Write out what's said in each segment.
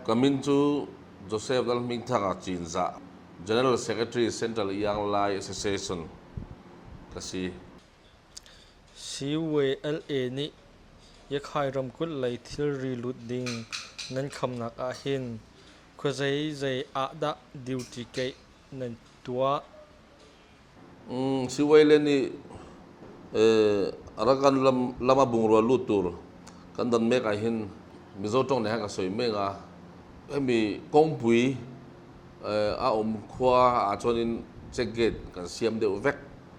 Ka min cu Joseph Lalhmingthanga Cinzah, General Secretary Central Iang Lai Association ka si. CYLA nih Yakkai ramkulh lei thilri lut ding nan khamnak ahhin khuazei zei ah dah duty keih nan tuah? CYLA nih Arakan lam a bungrua lut tur kan don mek ahhin Mizo ṭawng nih a kan soi men a. Hemi kawngpui a um khua ahcun in check gate kan siam deuh vek.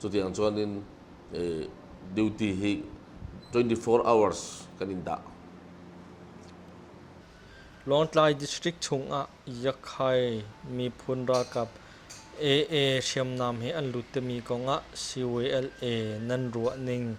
Cutiang cun in eh, duty hi 24 hours kan in dah. Lawngtlai district chungah Yakhai miphun ralkap AA hriamnam hi an lut timi kongah CWLA nan ruah ning.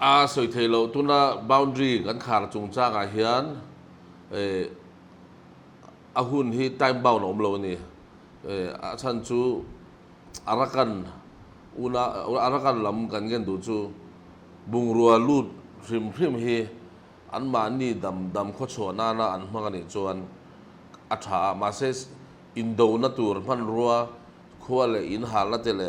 A soi thei lo. Tunah boundary kan khar chung caan ahhin a hun hi time-bound a um lo ani. A chan cu a rak kan unau, a rak kan lam kan ngen duh cu bungrua lut hrimhrim hi anmahni damdam khuachuahnak ah an hmang anih chuan a tha. Mahse indona tur hmanrua khua le inn harna te le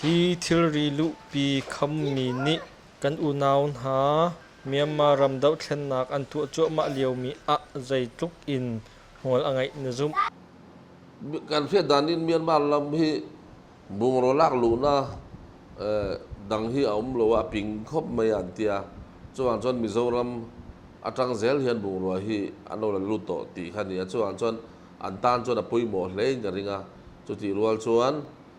Hi thilri luhpi khammi nih kan unau hna Myanmar ram dohthlennak an tuah cuahmah liomi ah zeitluk in hmual a ngeih na zumh? Kan hriahdan in Myanmar ram hi bungraw lak luhnak dang hi a um lo, a ping khawp mai an tia. Cuang cun Mizoram atang zel hian bungrua hi an lo la lut tawh ti kha ni a. Cuang cun an tan cun a pawimawh hlei in ka ring a. Cuti rual cun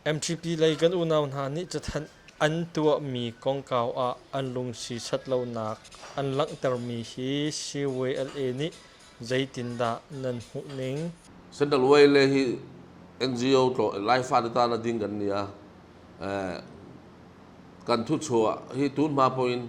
MTP lei kan unau hna nih cathanh an tuahmi kongkau ah an lungsi sat lonak an langhtermi hi CYLA nih zeitindah nan hmuh ning? Central YLA hi NGO tlawn Laifa te ta na ding kan nia. Eh, kan thuchuah hi tunhma poin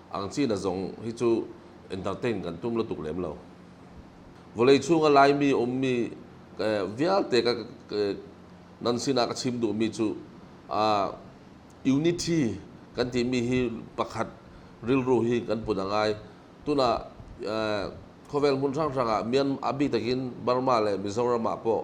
Angcina zong hi cu entertain kan tum lo tuk lem lo. Vawlei chung ah Laimi ummi vialte ka, nan sinah ka chim duhmi cu unity kan timi hi pakhat rilru hi kan put a ngai. Tunah khawvel hmun hranghrang ah mian a bik takin Burma le Mizoram ah pawh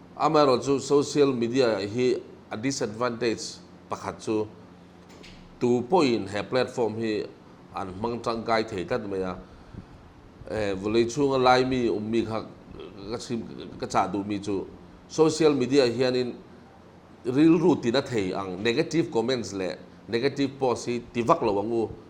Amaherawhcu social media hi a disadvantage pakhat cu tu poin he platform hi an hmang ṭangkai thei tlat mai a. Vawlei chung a Laimi ummi kha ka cah duhmi cu social media hian in rilru tina thei ang negative comments le negative post hi tivak lo ang u.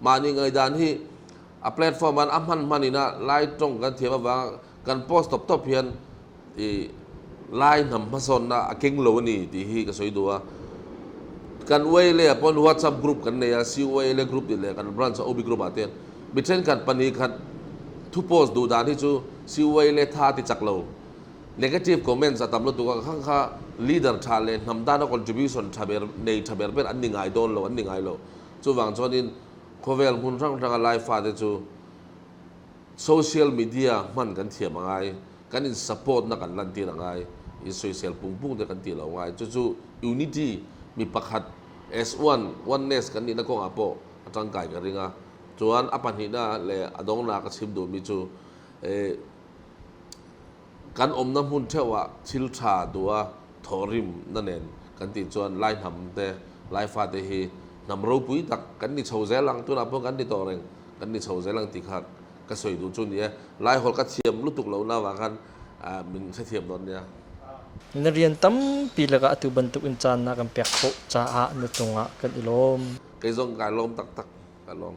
mah ning aidan hi a platform an a hman hman in ah lai tong kan thiam awang kan post top top hian i lai nam hmasawn na a keng lo ni ti hi ka soi du a kan way le pon whatsapp group kan nei a COA le group ti le kan branch a obi group aten mi then kan pani khat thu post du dan hi chu COA le tha ti chak lo negative comments a tam lo tu ka khang kha leader tha le nam da no contribution tha ber nei tha ber ber an ni ngai don lo an ni ngai lo Cuvang chuan in khawvel hmun hranghrang ah laifate cu social media hman kan thiam a ngai. Kan in support nak kan lantir a ngai. In soisel pungpung te kan ti lo ngai. Cucu unity mi pakhat as one, oneness kan nihna kongah pawh a tangkai ka ring a. Chuan a pahnihnak le a dongnak a chim duhmi cu eh, kan umnak hmun ṭheo ah thilṭha dua thawhrim na nen kan tih cun Lai hnam te Lai fate hi hnam ropui tak kan ni cho zel ang tunah pun kan ni to ring kan ni cho zel ang ti kha ka soi tu cun ie Lai holh ka thiam lutuk lo na wa khan ah min se thiam nawn nia Na rian tampi lakah atu bantuk in caan na kan pek khawh caah na cungah kan i lawm. kei zong kai lawm taktak ka lawm